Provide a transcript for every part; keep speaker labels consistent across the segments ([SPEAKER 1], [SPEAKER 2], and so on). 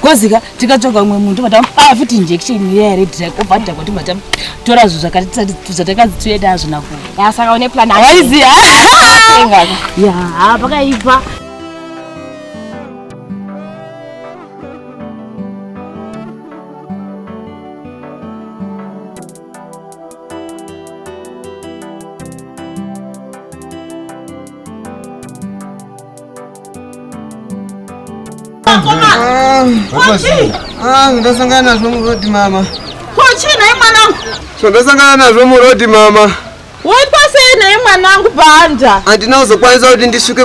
[SPEAKER 1] kozika tikatsvaga umwe munhu tobva tamuaa futi injection iya here drag obva adhakwa tobva tatora zvinhu zvatakazi tiuye nazvo nakuasaka une plan awaiziva yaa pakaipa ndasangana nazvo murodi mama kochii naye mwanangu zvandasangana nazvo murodi mama woitwa sei naye mwanangu banda handina kuzokwanisa kuti ndisvike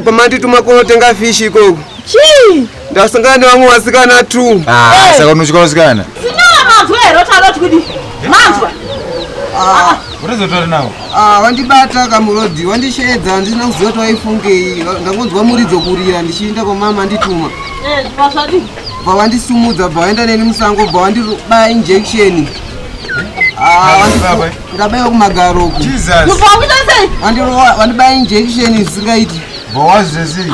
[SPEAKER 1] kwamandituma kunotenga fishi ikoko chii Ndasangana nevamwe vasikana tu. Ah, saka unochika vasikana? Sinyora manzwa here utaroti kuti manzwa. Ah. Unozotora nawo. Ah, wandibata kamurodhi, wandisheedza, andina kuziva kuti waifungei. Ndakunzwa muridzo kurira ndichiinda kwa mama andituma. Eh, pasvadi. Bva wandisumudza, bva waenda neni musango, bva wandirubaya injection. Ah, ndabaiwa kumagaro uku. Jesus. Wandibaya injection isingaiti. Bva wazvezei?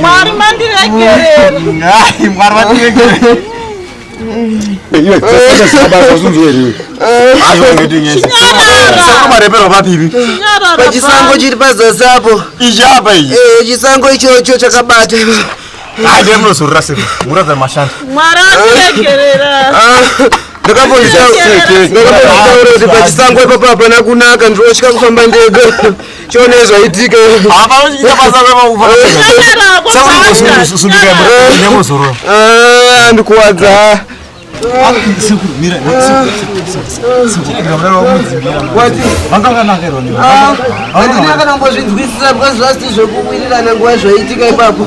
[SPEAKER 1] mwari mandiregereamarepero papipi pachisango chiri pazasi apo ichiapa ichi eh, chisango ichocho chakabata aide munozorora sei muratidza mashanda mwari aregerera ah. ndakambozvitaura kuti pachisango ipapo hapana kunaka ndinotya kufamba ndega chione zvaitika ndikuwadza vanganakirwa ndiakanambozvinzwisisa because zvasiti zvekuwirirana nguva zvaitika ipapo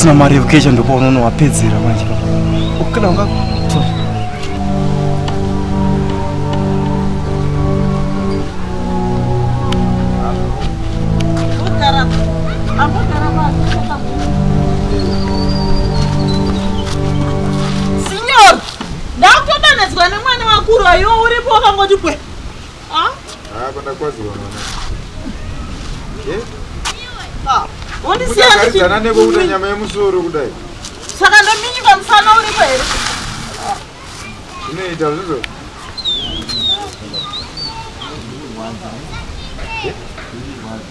[SPEAKER 1] usina mari yekukecha ndopa unoona wapedzera manje kana unga Ndakutodanedzwa nemwana wakuru ayo uripo wakangoti pwe. Ah? Ah, kwenda kwazi wana. Eh? Ah. Wondisiya ndichi. Kuchagadzana neko kuda nyama yemusoro kudai. Saka ndominyika musana uripo here? Zvinoita zvizo. Yeah.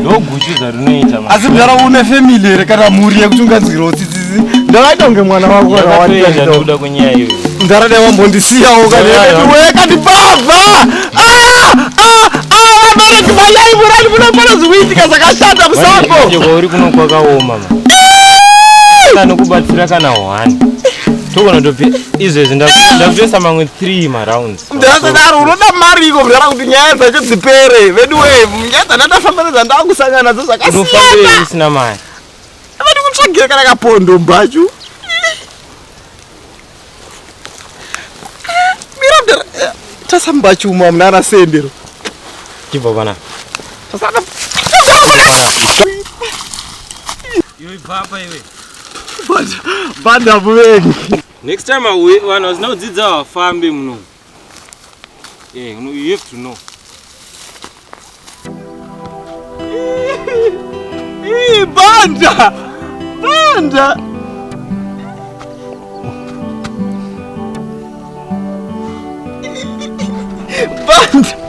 [SPEAKER 1] ndoguchuza rinoita asi mdara une family here kana mhuri yekuti unganzwirawo tsitsisi ndavaita kunge mwana wako kanawakuda kunyaya iyo mdara dai wambondisiyawo kanekandipabva vabereki vayai murani munopana zvikuitika zvakashata musakouri kuno kwakaoma anokubatsira kana one togona tope izvezvi ndakutoisa mamwe 3 marounds ndakadaro unoda mari iko kudara kuti nyaya dzacho dzipere vedu we nyaya dzandandafamba nedzandava kusangana nadzo zvakasiyanasina mari vadi kutsvagira kana kapondo mbachu miradera eh, tasa mbachu umwe amuna ana sendero chibva pana iwe ibvapa iwe banda muvengi Next time auye vanhu vasina kudzidza vafambe muno. Yeah, you have to know. Ii, banda! Banda! Banda!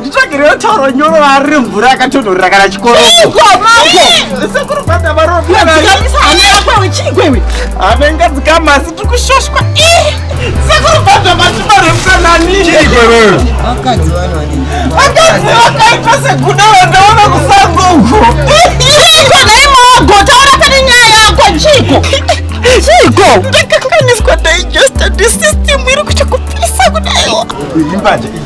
[SPEAKER 1] nditsvagirewo tauro nyoro vari remvura yakatonhorera kana chikoroavenga dzikama asi tiri kushoshwa sekuru bhadha matima remukananivakadzi vakaita seguda vandaona kusango uko naimoagotaura pane nyaya yako chiko chiko ndakakakaniswa digesta disystem iri kuchakupisa kudaiwa